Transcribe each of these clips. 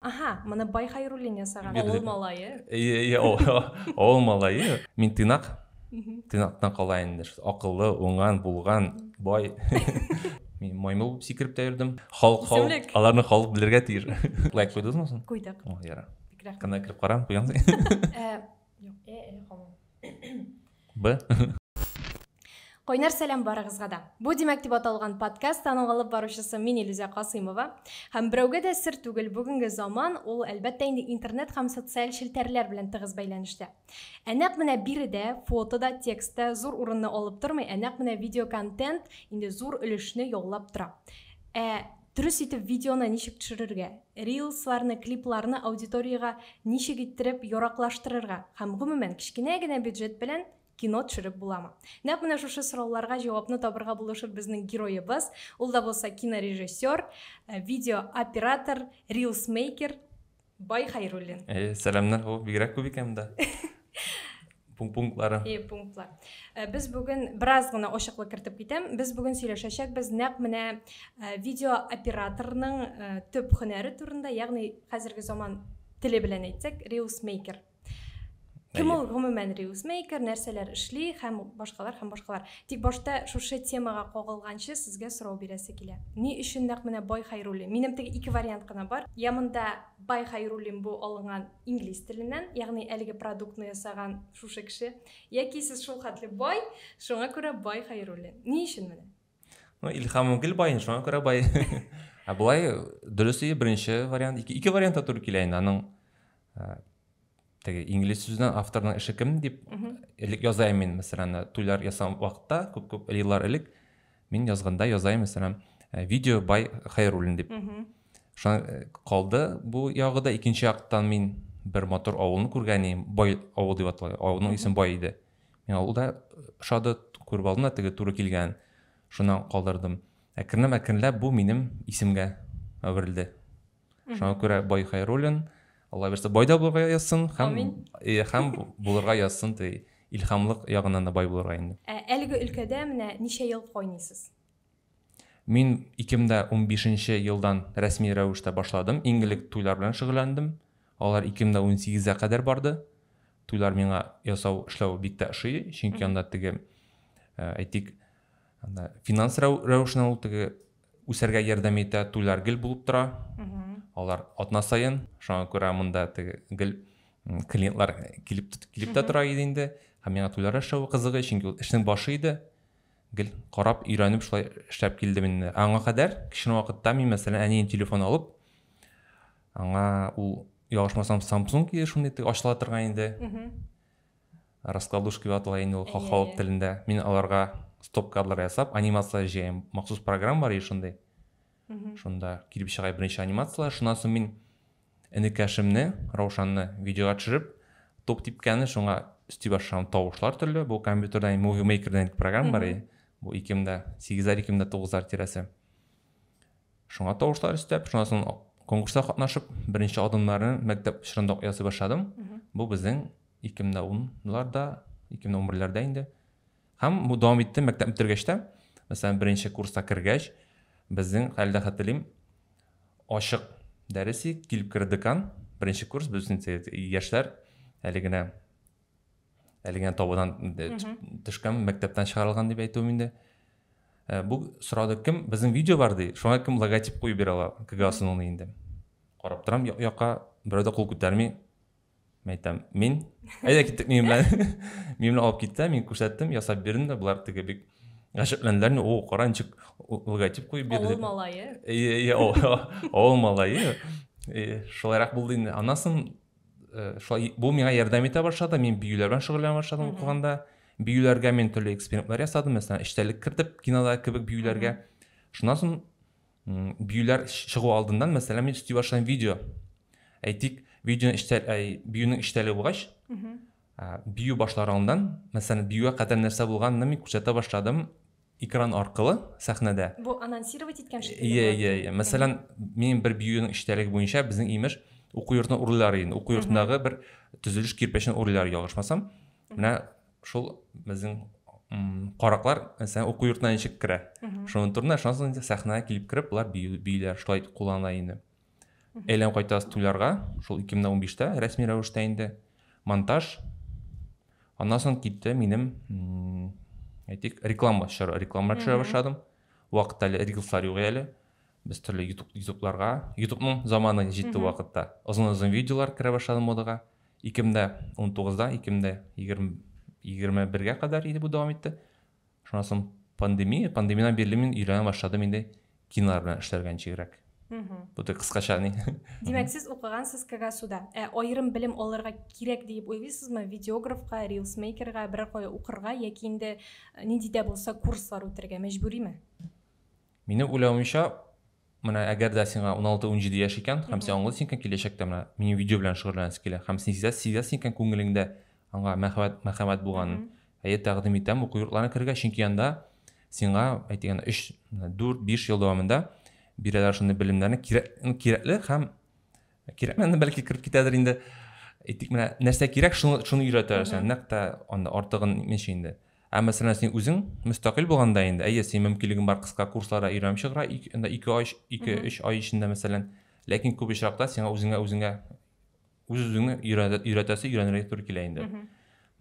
Аһа, моны Бай Хайруллин ясаган. Бирдек. Авыл малае. Әйе, әйе, авыл- авыл малае. Мин тыйнак, Мгм. тыйнактан кала инде. Ш- Акыллы, уңган, булган, бай. Мин маймыл булып сикереп тә йөрдем. Халык, халык, Исемлек. аларны халык белергә тиеш. Лайк куйдыңызмы соң? Куйдык. О, яра. Бик рәхмәт. Кана кереп карам, куямсың. Ә, Б. Кайнар сәлам барыгызга да. Бу димәк дип аталган подкаст аның алып баручысы мин Илүзә Касыймова. Һәм берәүгә дә сер түгел, бүгенге заман ул әлбәттә инде интернет һәм социаль челтәрләр белән тыгыз бәйләнештә. Ә нәкъ менә биредә фото да, текст та зур урынны алып тормый, ә нәкъ менә видеоконтент инде зур өлешне яулап тора. Ә Дөрес итеп видеоны ничек төшерергә, рилсларны, клипларны аудиториягә ничек иттереп яраклаштырырга һәм, гомумән, кечкенә генә бюджет белән кино төшереп буламы? Нәкъ менә шушы сорауларга җавапны табырга булышыр безнең героебыз, ул да булса кинорежиссер, видеооператор, рилсмейкер. Бай Хайруллин. Э, сәламнәр, һо, бигрәк күп икән монда. Пунктлары. Э, пунктлар. Э, без бүген бераз гына ошыклык кертеп китәм. Без бүген сөйләшәчәкбез нәкъ менә э, видео операторның э, төп һөнәре турында, ягъни хәзерге заман теле белән әйтсәк, reels maker Кем ул гомумән Reelsmaker, нәрсәләр эшли һәм башкалар һәм башкалар. Тик башта шушы темага кагылганчы сезгә сорау бирәсе килә. Ни өчен нәкъ менә Бай Хайруллин? Минем теге ике вариант кына бар. Я монда Бай Хайруллин бу алынган инглиз теленнән, ягъни әлеге продуктны ясаган шушы кеше. Яки сез шулхәтле бай, шуңа күрә Бай Хайруллин. Ни өчен менә? Ну, Илхам гел бай, шуңа күрә бай. Ә болай дөрес ие беренче вариант, ике, ике вариант та туры килә инде. Аның теге инглиз сүзеннән авторның эше кем дип элек язайм мин, мәсәлән, туйлар ясам вакытта, күп-күп еллар элек мин язганда язайм, мәсәлән, э, видео бай Хайруллин дип. Шуңа э, калды бу ягы да икенче яктан мин бер мотор авылны күргән идем, бай авыл дип атала. Авылның исеме бай иде. Миңа ул да ошады, күреп алдым да теге туры килгән. Шуннан калдырдым. Әкренләп, әкренләп бу минем исемгә әверелде. Шуңа күрә Бай Хайруллин, Алла бирса, бай да булырга язсын һәм э, һәм булырга язсын ди. Илһамлык ягыннан да бай булырга инде. Ә әлеге өлкәдә менә ничә ел кайныйсыз? Мин ике мең дә унбишенче елдан рәсми рәвештә башладым. Иң элек туйлар белән шөгыльләндем. Алар ике мең дә унсигезгә кадәр барды. Туйлар миңа ясау, эшләү бик тә ошый, чөнки анда теге, э, әйтик, анда финанс рәвешенә ул теге үсәргә ярдәм итә, туйлар гел булып тора. Алар атна саен, шуңа күрә монда теге гел клиентлар килеп килеп тә тора иде инде. Һәм миңа туйлар эшләү кызык, чөнки ул эшнең башы иде. гел карап, өйрәнеп шулай эшләп килдем инде. Аңа кадәр кечкенә вакытта мин, мәсәлән, әнием телефон алып, аңа ул ялгышмасам Samsung иде шундый ачыла торган инде. Раскладушка дип атала инде ул халык телендә. Мин аларга стоп кадры ясап, анимация җыям. Махсус программа бар и шундый. Шунда килеп чыга беренче анимацияләр. Шуннан соң мин Энекәшемне, Раушанны, видеога төшереп, тук типкәне, шуңа өсти башлаган тавышлар төрле. Бу компьютерда Movie Maker дигән программа бар иде. Бу 2008-ләр, 2009-лар тирәсе. Шуңа тавышлар өстәп, шуннан соң конкурста катнашып, беренче адымнарны мәктәп чорында ук ясый башладым. Бу безнең 2010-ларда, 2011-ләрдә инде. Һәм бу дәвам итте мәктәп бетергәч тә, мәсәлән, беренче курста кергәч, безнең хәлдә хәтерлим, ачык дәресе килеп керде декан, беренче курс без яшьләр әле генә әле генә табадан төшкән мәктәптән чыгарылган дип әйтүем инде э, бу сорады кем безнең видео бар ди шуңа кем логотип куеп бирә ала кгасының инде карап торам якка берәү дә кул күтәрми Мин әйтәм, мин, әйдә киттек минем белән. Минем белән алып китте, мин күрсәттем, ясап бирдем дә, булар теге бик гаҗәпләнделәр, ни, о, кара, ничек логотип куеп бирде. Авыл малае. Иә, иә, авыл малае. Шулайрак булды инде. Аннан соң э, шулай бу миңа ярдәм итә башлады, мин биюләр белән шөгыльләнә башладым укыганда. Биюләргә мин төрле экспериментлар ясадым, мәсәлән, эчтәлек кертеп кинода кебек биюләргә. Шуннан соң Биюләр чыгу алдыннан, мәсәлән, мин өсти башлыйм видео. Әйтик, видео эштә, әй, биюнең эштәле булгач, бию башлар алдыннан, мәсәлән, биюгә кадәр нәрсә булганын мин күрсәтә башладым экран аркылы сәхнәдә. Бу анонсировать иткән шикелле. Иә, иә, иә. Мәсәлән, мин бер биюнең эштәлеге буенча безнең имеш уку йортына урылар инде. Уку йортындагы бер төзелеш кирпечен урылар ялгышмасам. менә шул безнең караклар мәсәлән уку йортына ничек керә шуның турында шуннан соң инде сәхнәгә килеп кереп болар бииләр шулай куллана инде әйләнеп кайтабыз туйларга шул ике мең дә унбиштә рәсми рәвештә инде монтаж аннан соң китте минем әйтик реклама төшерә реклама төшерә башладым вакытта әле рилслар юк әле без төрле ютуб ютубларга ютубның заманы җитте вакытта озын озын видеолар керә башлады модаға Ике мең дә унтугыздан ике мең дә егерме бергә кадәр иде бу дәвам итте. Шуннан соң пандемия, пандемиядән бирле мин өйрәнә башладым инде кинолар белән эшләргә ничегрәк. Бу да кыскача ни. Димәк, сез укыгансыз КГСУда. Ә аерым белем алырга кирәк диеп уйлыйсызмы? Видеографка, рилсмейкерга берәр кая укырга яки инде нинди дә булса курслар үтәргә мәҗбүриме? Минем уйлавымча, менә әгәр дә сиңа 16-17 яшь икән, һәм син аңлыйсың икән, киләчәктә менә минем видео белән шөгыльләнәсе килә, һәм син сизәсең, сизәсең икән күңелеңдә аңа мәхәббәт, мәхәббәт булганын, әйе, тәкъдим итәм уку йортларына керергә, чөнки анда сиңа, әйтегәндә, 3, 4, 5 ел дәвамында бирәләр шундый белемнәрне, кирәк, кирәкле һәм кирәкмәгәнне бәлки кереп китәдер инде әйтик менә нәрсә кирәк шуны шуны өйрәтә сән нәкъ тә анда артыгын ничә инде ә мәсәлән син үзең мөстәкыйль булганда инде әйе син мөмкинлегең бар кыска курсларда өйрәнеп чыгыра анда ике ай ике өч ай эчендә мәсәлән ләкин күп очракта сиңа үзеңә үзеңә үз үзеңне өйрәтәсе өйрәнергә туры килә инде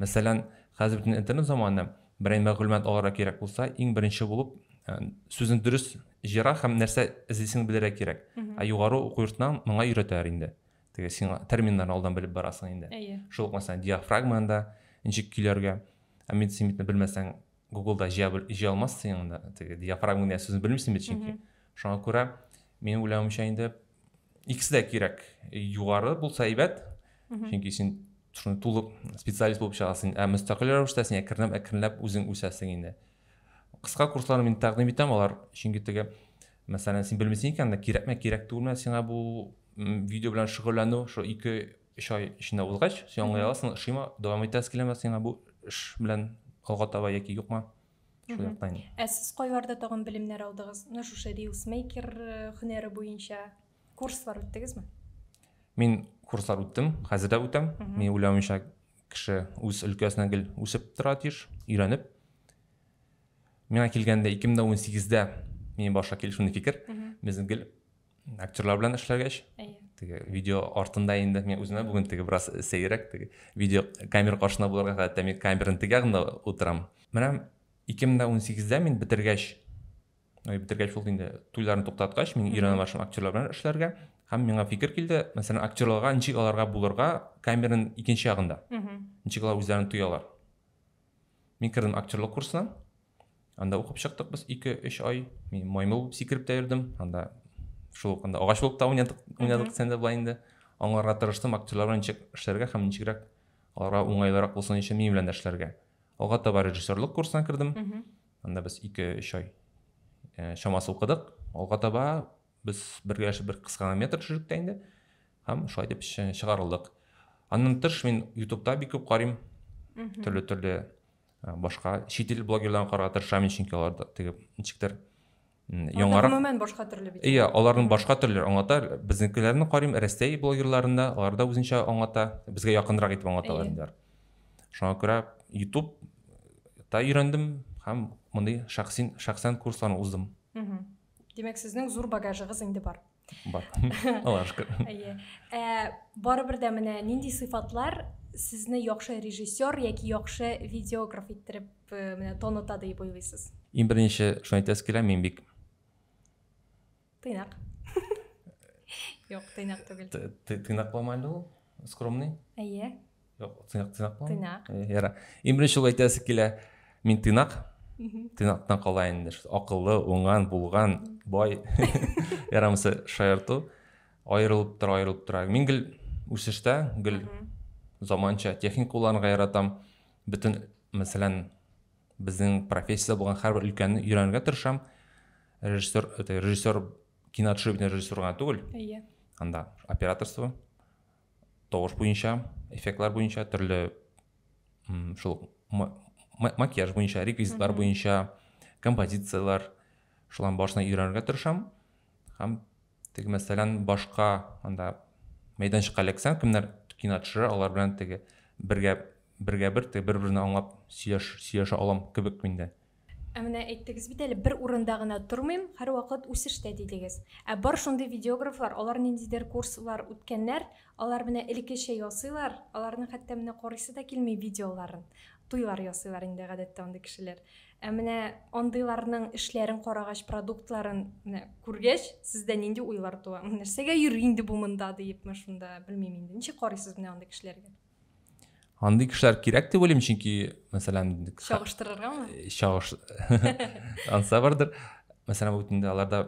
Мәсәлән, хәзер бөтен интернет заманы, берәй мәгълүмат алырга кирәк булса, иң беренче булып э, сүзен дөрес җыера һәм нәрсә эзлисең белергә кирәк. Ә югары уку йортыннан моңа өйрәтәләр инде. Теге син терминнарны алдан белеп барасың инде. Әйе. Шул ук мәсәлән диафрагма анда ничек көйләргә. Ә медицинаны белмәсәң, Гуглда җыя җыя алмассың инде. Теге диафрагма дигән сүзне белмисең бит чөнки. Шуңа күрә минем уйлавымча инде икесе дә кирәк югары булса әйбәт чөнки син шуны тулы специалист булып чыгасың ә мөстәкыйль рәвештә син әкренләп әкренләп үзең үсәсең инде кыска курсларны мин тәкъдим итәм алар чөнки теге мәсәлән син белмисең икән дә кирәкме кирәк түгелме сиңа бу видео белән шөгыльләнү шул ике өч ай эчендә узгач син аңлый аласың ошыймы дәвам итәсе киләме сиңа бу эш белән алга таба яки юкмы шул яктан ә сез кайларда тагын белемнәр алдыгыз менә шушы рилсмейкер э, һөнәре буенча курслар үттегезме мин курслар үттем хәзер дә үтәм мин уйлавымча кеше үз өлкәсенә гел үсеп тора тиеш өйрәнеп миңа килгәндә ике мең дә он сигездә мин башка килеш шундый фикер безнең гел актерлар белән эшләгәч теге видео артында инде мен үземә бүген теге бераз сәеррәк теге видео камера каршында булырга гадәттә мин камераның теге ягында утырам менә ике мең дә унсигездә мин бетергәч бетергәч булды инде туйларны туктаткач мин өйрәнә башлыйм актерлар белән эшләргә һәм миңа фикер килде мәсәлән актерларга ничек аларга булырга камераның икенче ягында ничек алар үзләрен тоялар мин кердем актерлык курсына Анда укып чыктык без 2-3 ай. Мин маймыл булып сикереп тә йөрдем. Анда шул ук анда агач булып та уйнадык, уйнадык сәндә былай инде. Аңларга тырыштым, актерларга ничек эшләргә һәм ничегрәк аларга уңайлырак булсын өчен минем белән дә эшләргә. Алга таба режиссерлык курсына кердем. Анда без 2-3 ай э, чамасы укыдык. Алга таба без бергәләшеп бер кыска метр төшердек тә инде. Һәм шулай дип чыгарылдык. Аннан тыш мин YouTube-та бик күп карыйм. Төрле-төрле Ә, башка чит ил блогерларын карарга тырышам чөнки алар да теге ничектер яңарак гомумән башка төрле бит иә аларның башка төрле аңлата безнекеләрне карыйм рәсәй блогерларында алар да үзенчә аңлата безгә якынрак итеп аңлаталар инде шуңа күрә ютуб та өйрәндем һәм мондый шәхсин шәхсән курсларны уздым демәк сезнең зур багажыгыз инде бар бар аллаға шүкір иә ә, барыбер дә менә нинди сыйфатлар сезне яхшы режиссер яки яхшы видеограф иттереп э, менә таныта дип уйлыйсыз иң беренче шуны әйтәсе килә мин бик тыйнак юк тыйнак түгел тыйнак булмайды ул скромный әйе тыйнак тыйнакмы тыйнак яра иң беренче ул әйтәсе килә мин тыйнак тыйнактан кала инде акыллы уңган булган бай ярамысы шаярту аерылып тора аерылып тора мин гел үсештә гел заманча техника кулланырга яратам бөтен мәсәлән безнең профессия булган һәрбер өлкәнне өйрәнергә тырышам режиссер режиссер киноотшибный режиссер гына түгел иә анда операторство тавыш буенча, эффектлар буенча, төрле шул макияж буенча, реквизитлар буенча, композицияләр, шуларның барысын өйрәнергә тырышам. Һәм теге мәсәлән башка анда мәйданчыкка эләксәң, кемнәр кино төшерә, алар белән теге бергә бергә бер теге бер-берне аңлап сөйләш сөйләшә алам кебек миндә. Ә менә әйттегез бит әле, бер урында гына тормыйм, һәрвакыт үсештә, дидегез. Ә бар шундый видеографлар, алар ниндидер курслар үткәннәр, алар менә элеккечә ясыйлар, аларның хәтта менә карыйсы да килми видеоларын. Туйлар ясыйлар инде гадәттә андый кешеләр. Ә менә андыйларның эшләрен карагач, продуктларын менә күргәч, сездә нинди уйлар туа? Нәрсәгә йөри инде бу монда диепме шунда, белмим инде. Ничек карыйсыз менә андый кешеләргә? Андый кешеләр кирәк дип уйлыйм, чөнки, мәсәлән, чагыштырыргамы? Э, чагыш. Анса бардыр. Мәсәлән, бүтендә аларда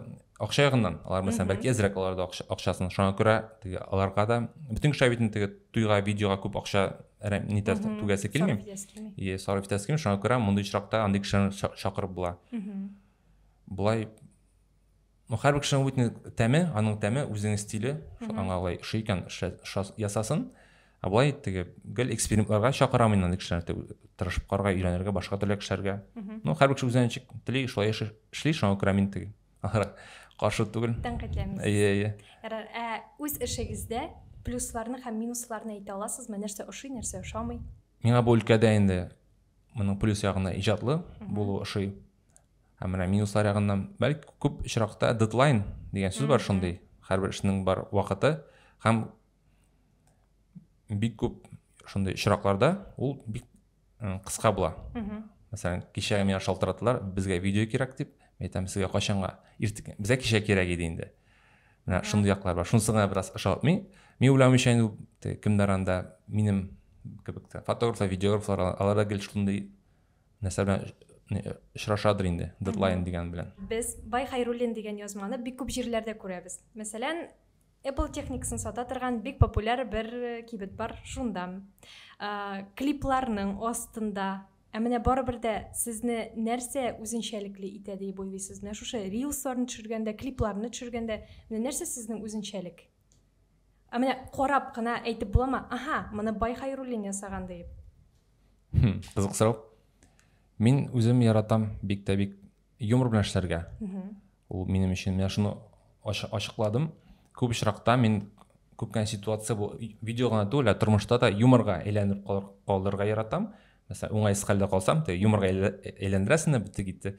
акча ягыннан, алар мәсәлән, бәлки әзрәк аларда акча, акчасын. Шуңа күрә теге аларга да бүтән кешеләр бит теге туйга, видеога күп акча нитә түгәсе килми. Е, сарыф итәсе килми. Шуңа күрә мондый очракта андый кешеләрне чакырып була. Булай Ну, һәрбер кешенең үтне тәме, аның тәме, үзенең стиле, шул аңа алай ошый икән, ясасын. Ә болай теге гел экспериментларга чакырам мин аны кешеләрне тырышып карарга, өйрәнергә, башка төрле кешеләргә. Ну, һәрбер кеше үзенә ничек тели, шулай эшли, шуңа күрә мин теге каршы түгел. Тәнкыйтьләмисез. Әйе, әйе. Ярар, ә үз эшегездә плюсларны һәм минусларны әйтә аласызмы? Нәрсә ошый, нәрсә ошамый? Миңа бу өлкәдә инде моның плюс ягына иҗатлы булу ошый. ә менә минуслар ягыннан бәлки күп очракта дедлайн дигән сүз бар шундый һәрбер эшнең бар вакыты һәм бик күп шундый очракларда ул бик кыска була мәсәлән кичә миңа шалтыраталар безгә видео кирәк дип мен айтам сезгә кайчанга иртүк безгә кичә кирәк иде инде менә шундый яклар бар шунысы гына бераз ошатмый мин уйлавымча инде кемдер анда минем кебек фотографлар видеографлар алар да гел шундый нәрсә белән очрашадыр инде дедлайн дигән белән без бай хайруллин дигән язманы бик күп җирләрдә күрәбез мәсәлән Apple техникасын сата торган бик популяр бер кибет бар шунда ә, клипларның астында ә менә барыбер дә сезне нәрсә үзенчәлекле итә дип уйлыйсыз менә шушы рилсларны төшергәндә клипларны төшергәндә менә нәрсә сезнең үзенчәлек ә менә карап кына әйтеп буламы аха моны бай хайруллин ясаган дип хм, кызык сорау мин үзем яратам бик тә бик юмор белән эшләргә ул минем өчен менә шуны ачыкладым күп очракта мин күп кенә ситуация бу видео гына түгел ә тормышта да юморга әйләнеп калдырырга яратам мәсәлән уңайсыз хәлдә калсам тек юморга әйләндерәсең дә бетте китте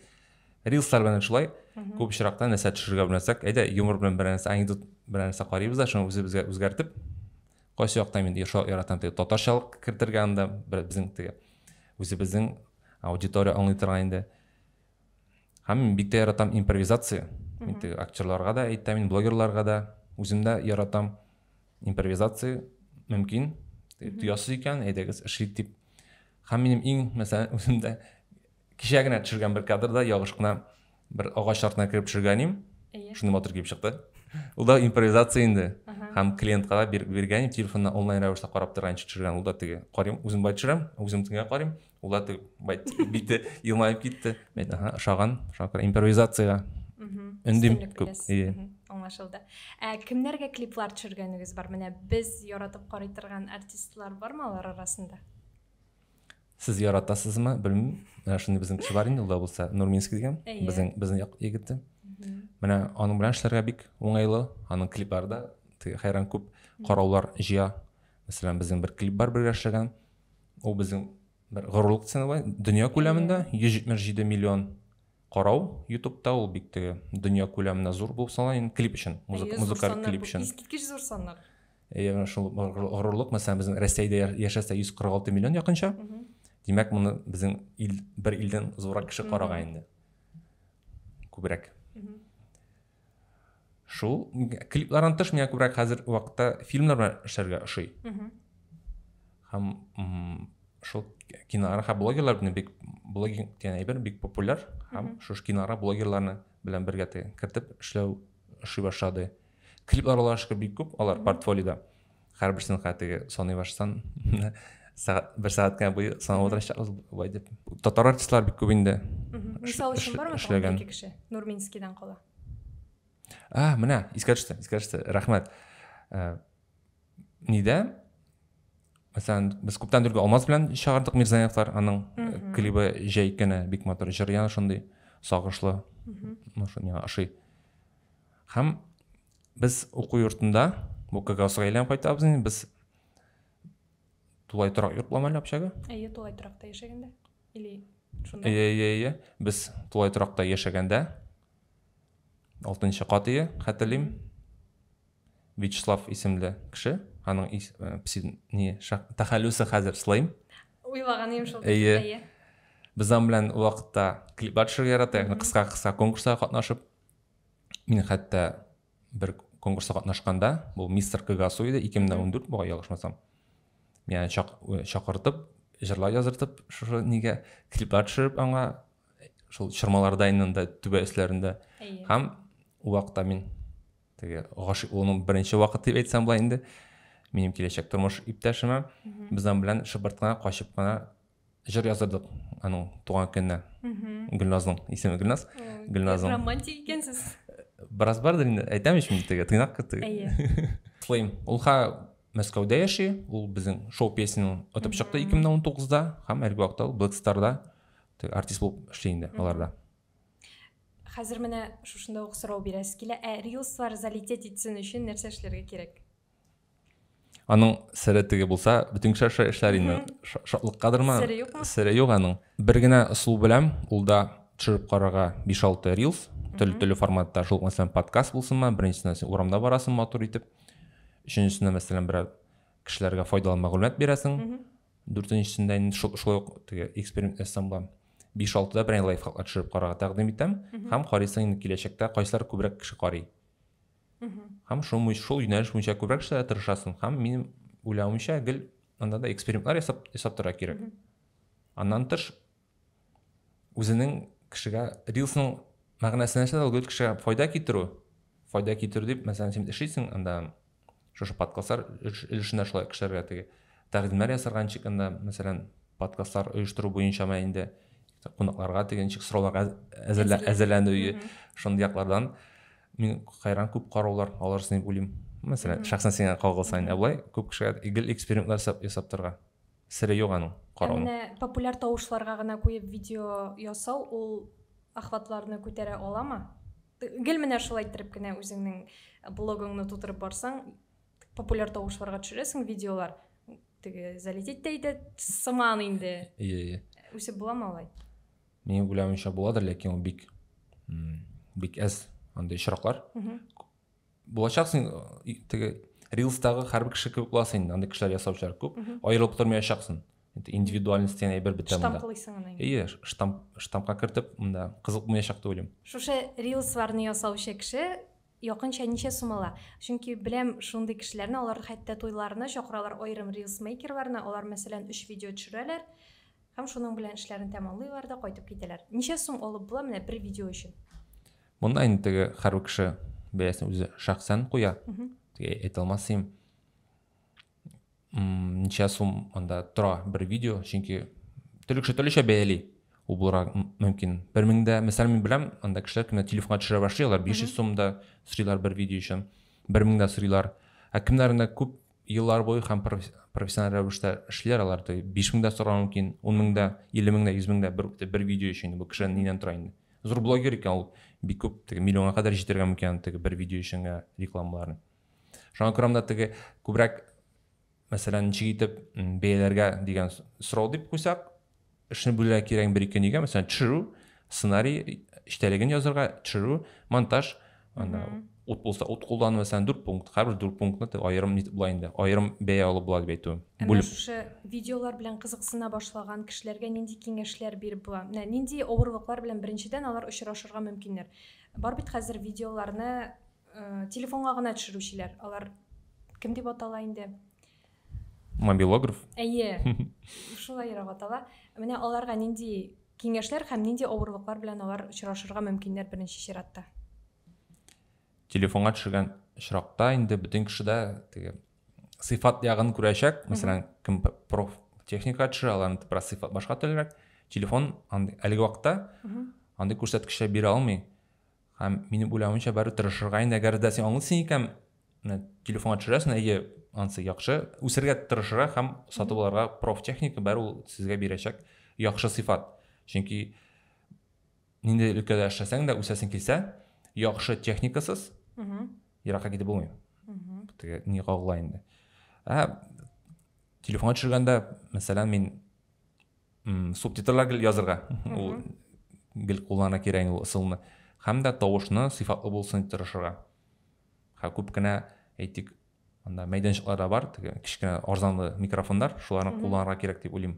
рилслар белән шулай күп очракта нәрсә төшерергә белмәсәк әйдә юмор белән берәр нәрсә анекдот берәр нәрсә карыйбыз да шуны үзебезгә үзгәртеп Кайсы яктан инде Иршал яратам теге татарчалык кертергә анда, безнең теге үзебезнең аудитория аңлый торган инде. Һәм мин бик тә яратам импровизация. Мин теге актерларга да әйтәм, мин блогерларга да үзем дә яратам импровизация мөмкин. Төясыз икән, әйдәгез эшлик дип. Һәм минем иң, мәсәлән, үземдә Кичә генә төшергән бер кадрда ялгыш кына бер агач артына кереп төшергән идем. Шундый матур килеп чыкты. Ул да импровизация инде. Һәм клиентка да биргән идем, телефонда онлайн рәвештә карап торганчы төшергән. Ул да теге карыйм, үзем бай төшерәм, үзем тиңгә карыйм. Ул да теге бай бите елмаеп китте. Мен аха, ошаган, ошаган импровизациягә. Өндим күп. Ие. Аңлашылды. Ә кемнәргә клиплар төшергәнегез бар? Менә без яратып карый торган артистлар бармы алар арасында? сез яратасызмы белмим менә шундый безнең кеше бар инде ул да булса нурминский дигән безнең безнең як егете менә аның белән эшләргә бик уңайлы аның клиплары да теге хәйран күп караулар җыя мәсәлән безнең бер клип бар бергә эшләгән ул безнең бер горурлык ценовой дөнья күләмендә йөз җитмеш җиде миллион карау ютубта ул бик теге дөнья күләмендә зур булып санала инде клип өчен музыкаль клип өчен искиткеч зур саннар Ягъни шул горурлык, мәсәлән, безнең Россиядә яшәсә 146 миллион якынча. Димәк, моны безнең ил бер илдән зуррак кеше карага инде. Күбрәк. Шул клиплардан тыш миңа күбрәк хәзер вакытта фильмнар белән эшләргә ошый. Һәм шул киноара һәм блогерлар белән бик блогинг дигән әйбер бик популяр һәм шушы киноара блогерларны белән бергә кертеп эшләү ошый башлады. клиплар аллаһыга шөкер бик күп алар портфолиода һәрберсен хәзер теге саный башсам сәгать бер сәгать кенә буе санап утырачакбыз былай дип татар артистлары бик күп инде мисал өчен бармы эшләгән ике кеше нурминскийдан кала а менә искә төште искә төште рәхмәт э, нидә мәсәлән без күптән түгел алмаз белән чыгардык мирзаевлар аның э, клибы җәй көне бик матур җыр яна шундый сагышлы ну шуны ашый Һәм без уку йортында бу кагазга әйләнеп кайтабыз инде без тулай торак йорт ламали общага әйе тулай торакта яшәгәндә или шунда әйе әйе әйе без тулай торакта яшәгәндә алтынчы кат ие хәтерлим вячеслав исемле кеше аның ис, э, пси, не, шах, тәхәллүсе хәзер слайм уйлаган идем шул әйе без аның белән вакытта клиплар төшерергә яратабыз кыска кыска конкурсларга катнашып мин хәтта бер конкурста катнашканда бул мистер кыгасу иде эки мең дә он дүрт буга ялгышмасам мени чакыртып жырлар жаздыртып шушы неге клиплар төшереп аңа шул чормаларда инде түбә өсләрендә һәм ул вакытта мин теге гашыйк булуның беренче вакыты дип әйтсәм була инде минем киләчәк тормыш иптәшемә безнең белән шыбырт кына качып кына Җыр яздырдык аның туган көненә. Гөлназның исеме Гөлназ. Гөлназның. Романтик икәнсез. Бераз бардыр инде. Әйтәм ич мин теге тыйнак кыз теге. Әйе. Слейм. Ул ха Мәскәүдә яши. Ул безнең шоу песен отып чыкты 2019-да һәм әлеге вакытта ул Black Star-да артист булып эшли инде аларда. Хәзер менә шушында ук сорау бирәсе килә. Ә рилслар залететь итсен өчен нәрсә эшләргә кирәк? Аның сере теге булса, бөтен кеше аша эшләр инде. Шатлыккадырмы? Сере юкмы? Сере юк аның. Бер генә ысул беләм, ул да төшереп карарга 5-6 рилс, төрле-төрле форматта, шул мәсәлән подкаст булсынмы, беренчесенә син урамда барасың матур итеп. Өченчесенә мәсәлән берәр кешеләргә файдалы мәгълүмат бирәсең. Дүртенчесендә инде шулай ук теге эксперимент ясасаң була. 5-6да берәй лайфхак төшереп карарга тәкъдим итәм һәм карыйсың инде киләчәктә кайсылар күбрәк кеше карый. Һәм шул, шул юнәлеш буенча күбрәк эшләргә тырышасың. Һәм минем уйлавымча, гел анда да экспериментлар ясап, ясап торырга кирәк. Аннан тыш, үзенең кешегә, рилсның мәгънәсенә нәрсә ул кешегә файда китерү. Файда китерү дип, мәсәлән, син эшлисең анда, шушы подкастлар өлешендә шулай кешеләргә теге тәкъдимнәр ясарга ничек анда, мәсәлән, подкастлар оештыру буенча ма инде, кунакларга теге ничек сорауларга әзерләнү, шундый яклардан. мин кайран күп караулар алырсың дип уйлыйм мәсәлән шәхсән сиңа кагылса ә болай күп кешегә гел экспериментлар ясап торырга сере юк аның карауның ә менә популяр тавышларга гына куеп видео ясау ул охватларны күтәрә аламы гел менә шулай иттереп кенә үзеңнең блогыңны тутырып барсаң популяр тавышларга төшерәсең видеолар теге залететь тә итә сыман инде иә иә үсеп буламы алай Мин уйлавымча буладыр, ләкин ул бик бик әз андый очраклар. Булачаксың теге рилстагы һәрбер кеше кебек буласың инде, андый кешеләр ясаучылар күп. Аерылып тормаячаксың. Индивидуальность дигән әйбер бетә монда. Штамплыйсың аны. Әйе, штамп штампка кертеп, монда кызык булмаячак дип уйлыйм. Шушы рилсларны ясаучы кеше якынча ничә сум ала? Чөнки беләм шундый кешеләрне, алар хәтта туйларына чакыралар аерым рилс мейкерларны, алар мәсәлән 3 видео төшерәләр. Һәм шуның белән эшләрен тәмамлыйлар да кайтып китәләр. Ничә сум алып була менә бер видео өчен? Монда инде теге һәрбер кеше бәясен үзе шәхсән куя. Теге әйтә алмасым. Ничә сум анда тора бер видео, чөнки төрле кеше төрлечә бәяли. Ул булырга мөмкин. Бер меңдә, мисал мин беләм, анда кешеләр кемнәр телефонга төшерә башлый, алар 500 сум да сорыйлар бер видео өчен. Бер меңдә сорыйлар. Ә кемнәрендә күп еллар буе һәм профессиональ рәвештә эшләр алар то биш мең дә сорау мөмкин ун мең дә илле мең дә йөз мең дә бер, бер видео өчен бу кеше нидән тора инде зур блогер икән ул бик күп теге миллионга кадәр җитергән микән теге бер видео өчен генә рекламаларын шуңа күрә монда теге күбрәк мәсәлән ничек итеп бәяләргә дигән сорау дип куйсак Эшне бүләргә кирәк бер-ике нигә, мәсәлән, төшерү, сценарий эчтәлеген язырга, төшерү, монтаж, анда ут булса ут куллану мәсәлән дүрт пункт һәрбер дүрт пунктны аерым нитеп була инде аерым бәя алып була дип әйтү бүлеп шушы видеолар белән кызыксына башлаган кешеләргә нинди киңәшләр биреп була менә нинди авырлыклар белән беренчедән алар очрашырга мөмкиннәр бар бит хәзер видеоларны э, телефонга гына төшерүчеләр алар кем дип атала инде Мобилограф? Әйе, шулайрак атала. Менә аларга нинди киңәшләр һәм нинди авырлыклар белән алар очрашырга мөмкиннәр беренче чиратта? Телефонга төшергән очракта инде бөтен кеше дә теге сыйфат ягын күрәчәк. Мәсәлән, кем проф техника төшерә, аларны бераз сыйфат башка төрлерәк. Телефон әлеге вакытта андый күрсәткечләр бирә алмый. Һәм минем уйлавымча бары тырышырга инде, әгәр дә син аңлыйсың икән, менә телефонга төшерәсең, әйе, ансы яхшы, үсергә тырышырга һәм сатып алырга профтехника бары ул сезгә бирәчәк яхшы сыйфат. Чөнки нинди өлкәдә эшләсәң дә үсәсең килсә, яхшы техникасыз еракка китеп булмый. Теге ни кагыла инде. Ә телефонга төшергәндә, мәсәлән, мин субтитрлар гел язырга ул гел куллана кирәк ул ысулны һәм дә тавышны сыйфатлы булсын дип тырышырга һәм күп кенә әйтик анда мәйданчыклар да бар теге кечкенә арзанлы микрофондар шуларны кулланырга кирәк дип уйлыйм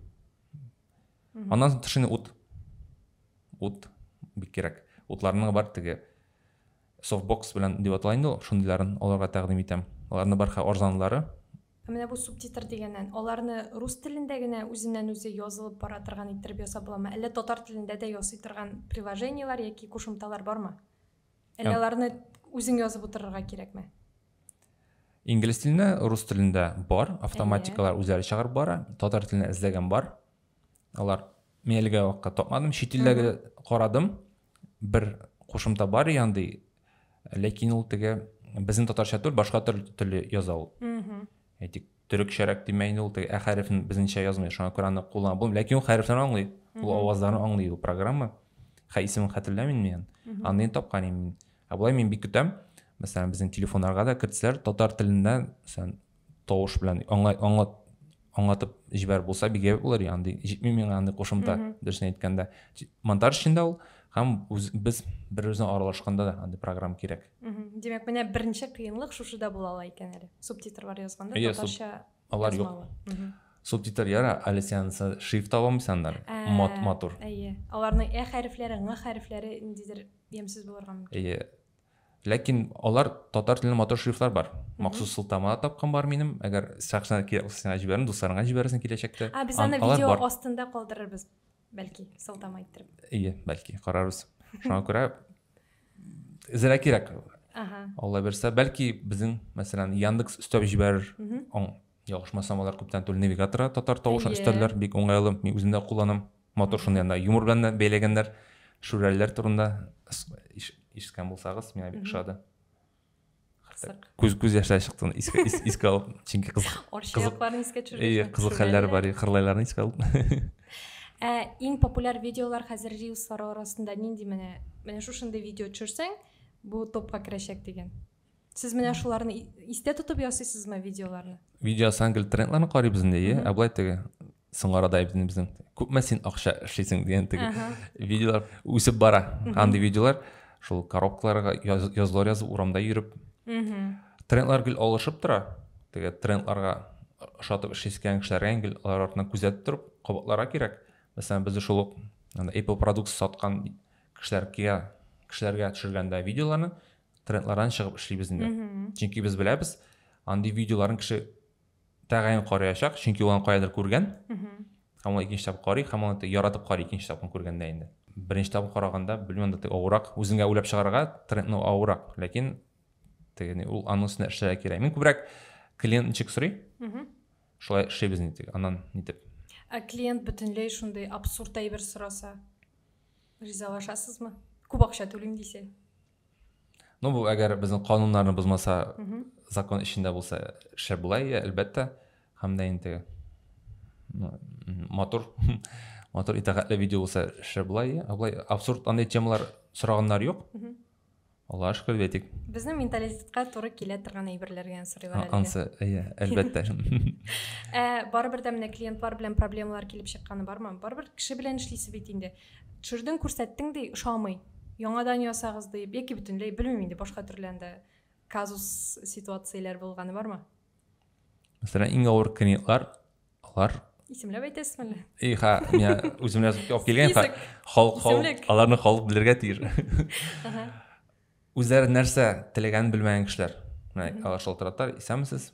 аннан соң тышыны ут ут бик кирәк утларның бар теге софтбокс белән дип атала инде ул шундыйларын аларга тәкъдим итәм аларны бар арзанлылары Ә менә бу субтитр дигәннән, аларны рус телендә генә үзеннән-үзе язылып бара торган иттереп ясап буламы, әллә татар телендә дә ясый торган приложениеләр яки кушымталар бармы? Әллә аларны үзең язып утырырга кирәкме? Инглиз телендә, рус телендә бар, автоматикалар үзләре чыгарып бара, татар телендә эзләгән бар. Алар мин әлегә вакытка тапмадым, чит илләргә карадым, бер кушымта бар и андый ләкин ул теге безнең татарча түгел башка теле яза ул әйтик төрекчәрәк димә инде ул теге ә хәрефен безнеңчә язмый шуңа күрә аны кулланып булмый ләкин ул хәрефләрне аңлый ул авазларны аңлый ул программа хә исемен хәтерләмим мин аны тапкан инде ә болай мин бик көтәм мәсәлән безнең телефоннарга да кертсәләр татар телендә мәсәлән тавыш белән аңа аңа аңлатып җибәреп булса бик әйбәт булыр андый җитми миңа андый кушымта дөресен әйткәндә монтаж өчен дә ул һәм үз, без бер үзенә аралашканда да андый программа кирәк димәк менә беренче кыенлык шушыда була ала икән әле субтитрлар язганда татарча алар юк субтитр яра әле сен шрифт табамыйсың анда мат матур әйе аларның ә хәрефләре ң хәрефләре ниндидер ямьсез булырга мөмкин әйе Ләкин алар татар телендә матур шрифтлар бар. Махсус сылтама тапкан бар минем. Әгәр сәхнә кирәк булса, сиңа җибәрәм, дусларыңа җибәрерсең киләчәктә. А, без аны видео астында калдырырбыз, бәлки, сылтама иттереп. Ие, бәлки, карарбыз. Шуңа күрә эзрәк кирәк. Ага. Алла бирсә, бәлки безнең, мәсәлән, Яндекс өстәп җибәрер. Аңа Ялгышмасам, алар күптән түгел навигаторга татар тавышын өстәлләр, бик уңайлы, мин үзем дә кулланам. Матур шуны янына юмор белән дә бәйләгәннәр. Шүрәлеләр турында ишеткән булсагыз, миңа бик ошады. Күз күз яшьләр чыкты, искә искә алып, чөнки кызык. Орчыякларны искә төшерде. Ие, кызык хәлләр бар, кырлайларны искә алып. Ә иң популяр видеолар хәзер рилслар арасында нинди менә? Менә шушындый видео төшерсәң, бу топка керәчәк дигән. сез менә шуларны истә тотып ясыйсызмы видеоларны видео сан гел трендларны карыйбыз инде иә ә былай теге соңгы арада әйберебезнең күпме син акча эшлисең дигән теге видеолар үсеп бара андый видеолар шул коробкаларга язулар язып урамда йөреп трендлар гел алышып тора теге трендларга ошатып эшлисе килгән кешеләргә гел алар артынан күзәтеп торып кабатларга кирәк мәсәлән без шул ук apple продукция саткан кешеләргә кешеләргә төшергәндә видеоларны трендлардан чыгып эшлибез инде чөнки без беләбез андый видеоларын кеше тәгаен карыячак чөнки ул аны каядыр күргән һәм ул икенче тапкыр карый һәм аны яратып карый икенче тапкыр күргәндә инде беренче тапкыр караганда белмим анда авырак үзеңә уйлап чыгарга трендны авырак ләкин тегене ул аның өстенә эшләргә кирәк мин күбрәк клиент ничек сорый шулай эшлибез нитек аннан нитеп ә клиент бөтенләй шундый абсурд әйбер сораса ризалашасызмы күп акча түлим дисә Ну, бу әгәр безнең кануннарны бозмаса, закон эчендә булса, шәп була, әлбәттә. Һәм дә инде ну, матур, матур итәгатьле видео булса, шәп була, Абылай, абсурд андый темалар сораганнар юк. Аллаһ шөкер әйтик. Безнең менталитетка туры килә торган әйберләр генә сорыйлар әле. Ансы, әйе, әлбәттә. Ә барыбер дә менә клиентлар белән проблемалар килеп чыкканы бармы? Барыбер кеше белән эшлисе бит инде. Төшердең күрсәттең ди, ошамый, яңадан ясагыз диеп, яки бөтенләй, белмим инде, башка төрле анда казус ситуацияләр булганы бармы? Мәсәлән, иң авыр клиентлар, алар Исемләп әйтәсез әле? И, ха, миңа үземә язып килгән, ха, халык, халык, аларны халык белергә тиеш. Үзләре нәрсә теләгәнен белмәгән кешеләр. Менә алар шалтыраталар, исәнмесез.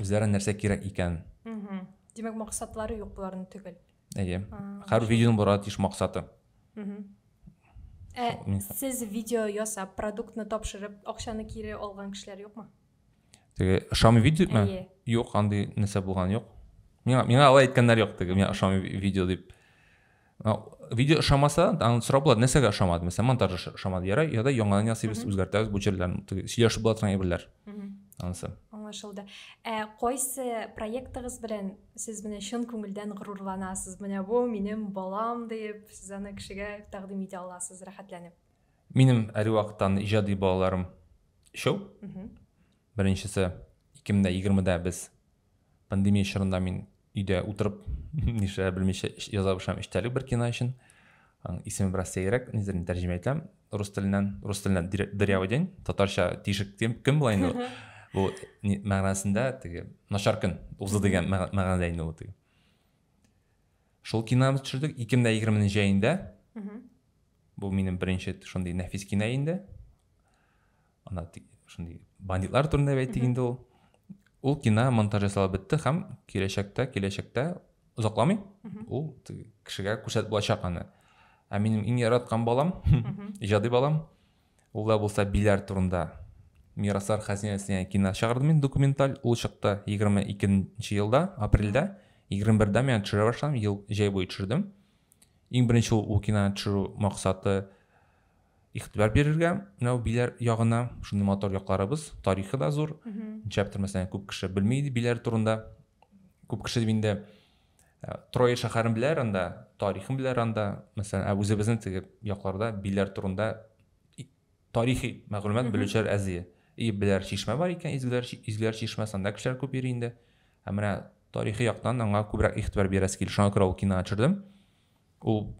үзләренә нәрсә кирәк икән димәк максатлары юк боларның түгел әйе һәр видеоның барырга тиеш максаты ә сез видео ясап продуктны тапшырып акчаны кире алган кешеләр юкмы теге ошамый видео ма юк андый нәрсә булган юк миңа миңа алай әйткәннәр юк теге миңа ошамый видео дип видео ошамаса аны сорап була нәрсәгә ошамады мәсәлән монтаж ошамады яра я да яңадан ясыйбыз үзгәртәбез бу җирләрне сөйләшеп була торган әйберләр анысы аңлашылды ә кайсы проектыгыз белән сез менә чын күңелдән горурланасыз менә бу минем балам диеп сез аны кешегә тәкъдим итә аласыз рәхәтләнеп минем әрвактан иҗади балаларым өчәү Беренчесе, 2020 дә без пандемия чорында мин өйдә утырып нишләр белмичә яза башлам эчтәлек бер кино өчен исеме бераз сәерәк нидер тәрҗемә итәм рус теленнән рус теленнән дырявый день татарча тишек көн була инде бу мәгънәсендә теге начар көн узды дигән мәгънәдә инде ул теге шул киномызды төшердек ике мең дә егерменең җәендә бу минем беренче шундый нәфис кино инде ана шундый бандитлар турында әйтик инде ул ул кино монтаж ясалып бетте һәм киләчәктә киләчәктә озакламый ул кешегә күрсәтеп булачак аны ә минем иң яраткан балам иҗади балам ул да булса биләр турында мираслар хәзинәсенә кино чыгардым мин документаль ул чыкты егерме икенче елда апрельдә егерме бердә мен төшерә башладым ел җәй буе төшердем Иң беренче ул, ул киноны төшерү максаты игътибар бирергә менә биләр ягына шундый матур якларыбыз тарихы да зур нишләптер мәсәлән күп кеше белми иде биләр турында күп кеше дип инде ә, трое шәһәрен беләр анда тарихын беләр анда мәсәлән ә үзебезнең теге якларда биләр турында тарихи мәгълүмат белүчеләр әз ие. И беләр чишмә бар икән, изгеләр, изгеләр чишмәсе, анда кешеләр күп йөри инде. Ә менә тарихи яктан аңа күбрәк игътибар бирәсе килде. Шуңа күрә ул кинога төшердем. Ул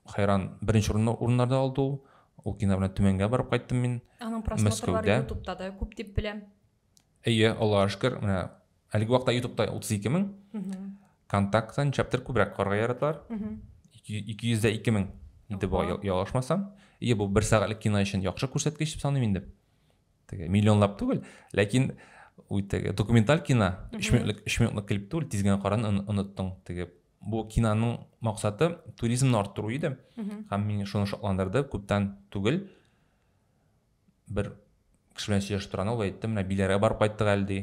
хайран беренче урынны урыннарда алды ул. Ул кино белән Төмәнгә барып кайттым мин. Аның просмотрлары Мәскәүдә. ютубта да күп дип беләм. Әйе, Аллаһ шөкер, менә әлеге вакытта ютубта 32 мең, контакта ничәптер күбрәк карга яраталар. 200-дә 2 мең иде бу ялгышмасам. Әйе, бу бер сәгатьлек кино өчен яхшы күрсәткеч дип саныйм инде. Теге миллионлап түгел, ләкин ул теге документаль кино 3 минутлык 3 минутлык клип түгел, тиз генә каран оныттың. Теге бу киноның максаты туризмны арттыру иде. Һәм мине шуны шатландырды, күптән түгел бер кеше белән сөйләшеп торганда ул әйтте менә биләргә барып кайттык әле ди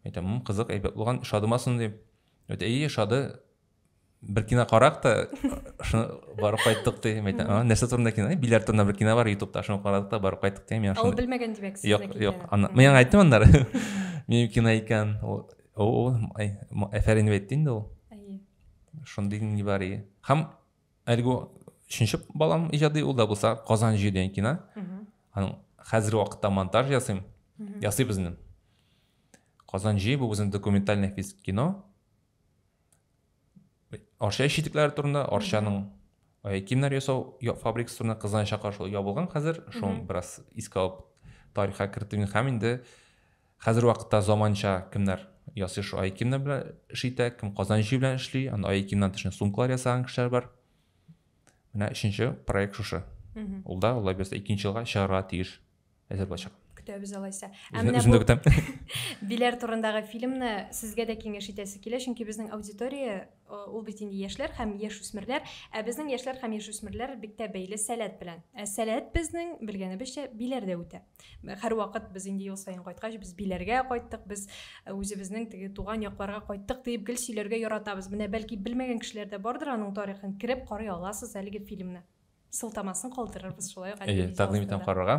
әйтәм кызык әйбәт булган шадымы соң ди әйе шады бер кино карак та шуны барып кайттык ди мен айтам нәрсә турында кино билар турында бер кино бар ютубта шуны карадык та барып кайттык ди мен ул белмәгән димәк юк юк мен аңа айттым аннары менин кино икән ул әфәрин дип әйтте инде ул шундый нибары һәм әлеге өченче балам иҗади ул да булса казан җир дигән кино аның хәзерге вакытта монтаж ясыйм ясыйбыз инде казан җи бу безнең документальный кино арча ишекләре турында арчаның киемнәр ясау фабрикасы турында кызганычка каршы ябылган хәзер шуны бераз искә алып тарихка кертүен һәм инде Хәзер вакытта заманча кемнәр ясый шул айкимнар белән эш итә, кем казан җие белән эшли, анда айкимнан тыш сумкалар ясаган кешеләр бар. Менә өченче проект шушы. Ул да алла бирсә икенче елга чыгарга тиеш. Әзер булачак. Көтәбез алайса. Ә менә бу Биләр турындагы фильмны сезгә дә киңәш итәсе килә, чөнки безнең аудитория Ул бит инде яшьләр һәм яшүсмерләр, ә безнең яшьләр һәм яшүсмерләр бик тә бәйле сәләт белән. Ә сәләт безнең, белгәнебезчә, биләрдә үтә. Һәрвакыт без инде ел саен кайткач, без биләргә кайттык, без үзебезнең теге туган якларга кайттык диеп гел сөйләргә яратабыз. Менә бәлки белмәгән кешеләр дә бардыр аның тарихын, кереп карый аласыз әлеге фильмны. сылтамасын калдырырбыз шулай ук әйе тәкъдим итәм карарга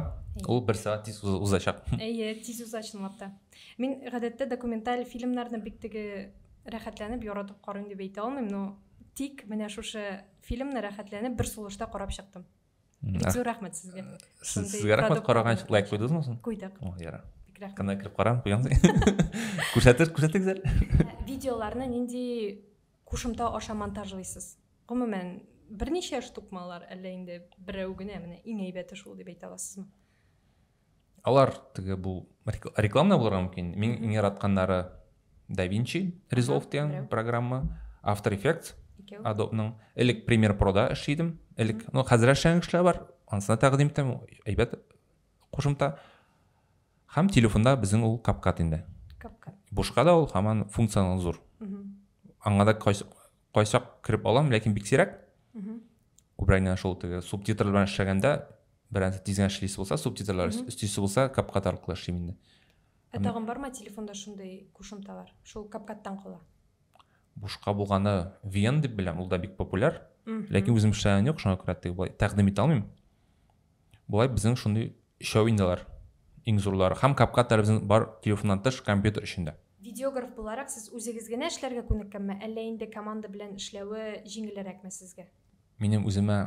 ул бер сәгать тиз узачак әйе тиз уза чынлап та мин гадәттә документаль фильмнарны бик теге рәхәтләнеп яратып карыйм дип әйтә алмыйм но тик менә шушы фильмны рәхәтләнеп бер сулышта карап чыктым бик зур рәхмәт сезгә сезгә рәхмәт караган өчен лайк куйдыгызмы соң куйдык ярар бик рәхмәт кана кереп карам куямын күрсәтер күрсәтегез әле видеоларны нинди Кушымта аша монтажлыйсыз. Гомумән, берничә штукмы алар, әллә инде берәү генә, менә иң әйбәте шул дип әйтә аласызмы? Алар теге бу реклама да булырга мөмкин. Мин иң яратканнары DaVinci Resolve дигән программа, After Effects, Adobe-ның. Элек Premiere Pro-да эшли идем. Элек, ну хәзер эшләгән кешеләр бар, анысына тәкъдим итәм, әйбәт кушымта. Һәм телефонда безнең ул капкат инде. Капкат. Бушка да ул һаман функционал зур. Аңа да кайсак кереп алам, ләкин бик сирәк. Күбрәк менә шул теге субтитрлар белән эшләгәндә берәрсе тиз генә эшлисе булса, субтитрлар өстисе булса, капкат аркылы эшлим инде. Ә тагын бармы телефонда шундый кушымталар? Шул капкаттан кала. Бушка булганы VN дип беләм, ул да бик популяр. Ләкин үзем эшләгән юк, шуңа күрә теге болай тәкъдим итә алмыйм. Болай безнең шундый Өчәү инде алар, иң зурлары. Һәм капка телевизон бар, телефоннан тыш, компьютер өчендә. Видеограф буларак сез үзегез генә эшләргә күнеккәнме, әллә инде команда белән эшләве җиңелерәкме сезгә? Минем үземә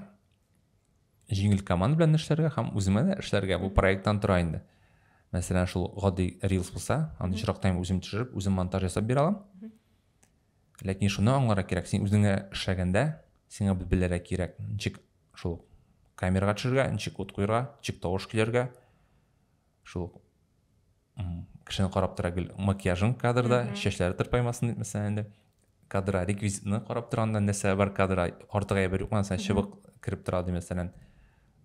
җиңел команда белән эшләргә һәм үземә дә эшләргә, бу проекттан тора инде. Мәсәлән, шул гади рилс булса, аны очрак тайм үзем төшереп, үзем монтаж ясап бирә алам. Ләкин шуны аңларга кирәк, син үзеңә эшләгәндә, сиңа бит белергә кирәк, ничек шул камерага төшергә, ничек ут куярга, ничек тавыш килергә, шул кешене карап тора гел макияжың кадрда, чәчләре тырпаймасын дип, мәсәлән, инде кадра реквизитны карап торганда нәрсә бар кадра артык әйбер юк, мәсәлән, чыбык кереп тора ди, мәсәлән.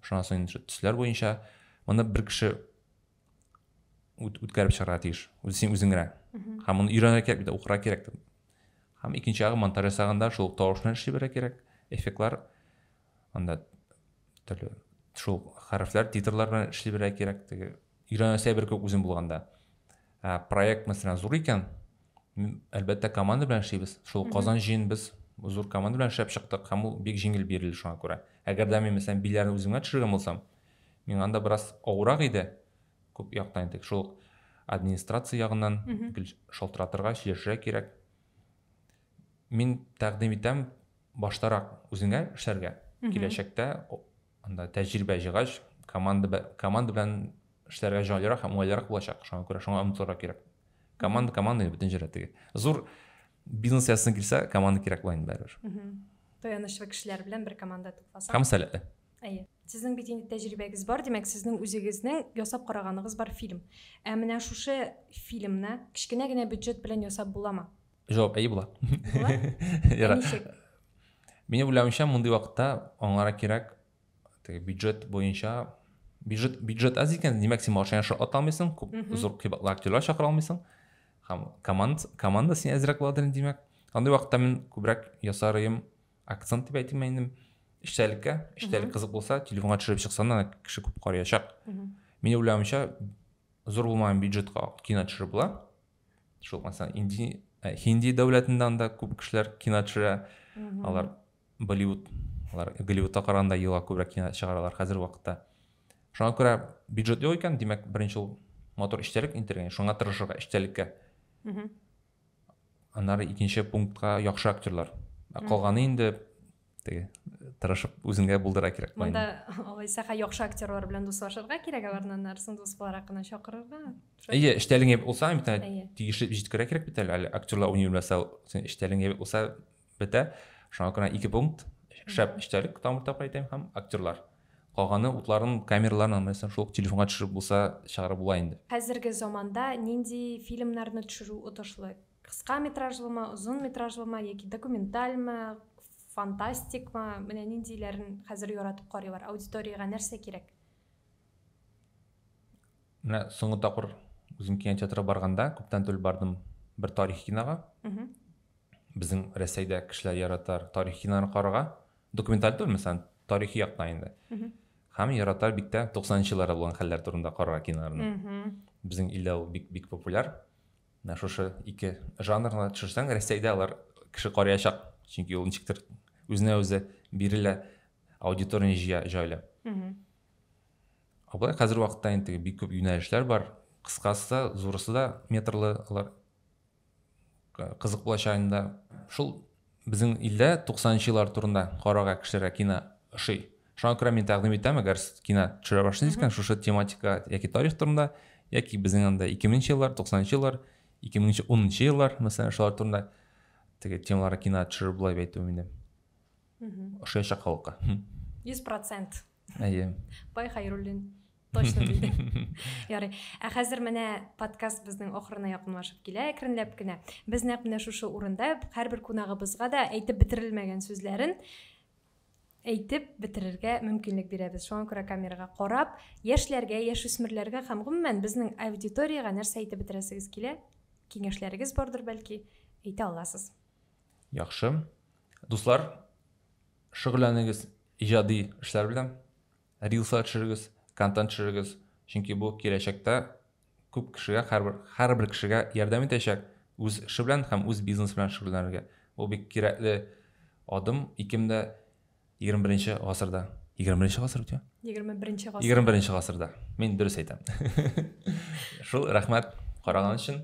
Шуннан соң төсләр буенча моны бер кеше үткәреп чыгарга тиеш үз син үзең генә һәм моны өйрәнергә кирәк бит укырга кирәк һәм икенче ягы монтаж ясаганда шул тавышны эшли бирә кирәк эффектлар анда төрле шул хәрефләр титрлар белән эшли бирә кирәк теге өйрәнәсе бер күп үзем булганда ә, проект мәсәлән зур икән әлбәттә команда белән эшлибез шул казан җыен без зур команда белән эшләп чыктык һәм ул бик җиңел бирелде шуңа күрә әгәр дә мин мәсәлән биләрне үземә төшергән булсам Миңа анда бераз авырак иде. Күп яктан әйтик, шул ук администрация ягыннан гел шалтыратырга, чиржә кирәк. Мин тәкъдим итәм баштарак үзеңә эшләргә. Киләчәктә анда тәҗрибә җыйгач, команда команда белән эшләргә җайлырак һәм уңайлырак булачак. Шуңа күрә шуңа омтылырга кирәк. Команда команда бөтен җирдә теге. Зур бизнес ясасын килсә, команда кирәк була инде барыбер. Таянычлы кешеләр белән бер команда тупласаң. Һәм сәләтле. Әйе. Сезнең бит инде тәҗрибәгез бар, димәк, сезнең үзегезнең ясап караганыгыз бар фильм. Ә менә шушы фильмны кечкенә генә бюджет белән ясап буламы? Җавап әйе була. Була? Ә ничек? Мине уйлавымча, мондый вакытта аңара кирәк теге бюджет буенча бюджет бюджет аз икән, димәк, син машина аша ата алмыйсың, күп зур кыйбатлы актерлар чакыра алмыйсың. Һәм команда команда сиңа әзрәк буладыр, димәк. Андый вакытта мин күбрәк ясарыйм акцент дип әйтим инде эчтәлеккә эчтәлек кызык булса телефонга төшереп чыксаң да кеше күп карыячак мин уйлавымча зур булмаган бюджетка кино төшереп була шул мәсәлән инди ә, хинди дәүләтендә анда күп кешеләр кино төшерә алар болливуд алар голливудта караганда елга күбрәк кино чыгаралар хәзерге вакытта шуңа күрә бюджет юк икән димәк беренче ул мотор эчтәлек интергән шуңа тырышырга эчтәлеккә аннары икенче пунктка яхшы актерлар ә калганы инде теге тырышып үзеңә булдыра кирәк монда алайса яхшы актерлар белән дуслашырга кирәк аларны аннарысын дус буларак кына чакырырга әйе эчтәлең ябык булса бит тиешле җиткерә кирәк бит әле актерлар уйный белмәсә син эчтәлең ябык булса бетә шуңа күрә ике пункт шәп эчтәлек тагын бер тапкыр әйтәм һәм актерлар калганы утларын камераларын нәрсә шул телефонга төшереп булса чыгарып була инде хәзерге заманда нинди фильмнарны төшерү отышлы кыска метражлымы озын метражлымы яки документальмы фантастикмы менә ниндиләрен хәзер яратып карыйлар аудиториягә нәрсә кирәк менә соңгы тапкыр үзем кинотеатрга барганда күптән түгел бардым бер тарихи кинога безнең рәсәйдә кешеләр яратар тарих киноларын карарга документаль түгел мәсәлән тарихи яктан инде һәм яратар бик тә туксанынчы елларда булган хәлләр турында карарга киноларны безнең илдә ул бик бик популяр менә шушы ике жанрны төшерсәң рәсәйдә алар кеше карыячак чөнки ул ничектер үзенә үзе бирелә аудиторияны җыя җайлы былай хәзерге вакытта инде бик күп юнәлешләр бар кыскасы да зурысы да метрлы алар кызык булачак инде шул безнең илдә 90 еллар турында карарга кешеләргә кино ошый шуңа күрә мин тәкъдим итәм әгәр сез кино төшерә башлыйсыз икән шушы тематика яки тарих турында яки безнең анда 2000 еллар 90 еллар 2010 еллар мәсәлән шулар турында теге темаларга кино төшерер болай әйтү инде ошаячак халыкка 100% әйе бай хайруллин Точно диде. Ярый. Ә хәзер менә подкаст безнең ахырына якынлашып килә әкренләп кенә. Без нәкъ менә шушы урында һәрбер кунагыбызга да әйтеп бетерелмәгән сүзләрен әйтеп бетерергә мөмкинлек бирәбез. Шуңа күрә камерага карап, яшьләргә, яшүсмерләргә һәм гомумән безнең аудиториягә нәрсә әйтеп бетерәсегез килә? Киңәшләрегез бардыр бәлки, әйтә аласыз. Яхшы. Дуслар, шөгыльләнегез иҗади эшләр белән. рилслар төшерегез, контент төшерегез, чөнки бу киләчәктә күп кешегә, һәрбер һәрбер кешегә ярдәм итәчәк үз эше белән һәм үз бизнес белән шөгыльләнергә. Бу бик кирәкле адым 2021 гасырда. 21 гасыр бит, 21 гасыр. 21 гасырда. Мин дөрес әйтәм. Шул, рәхмәт караган өчен.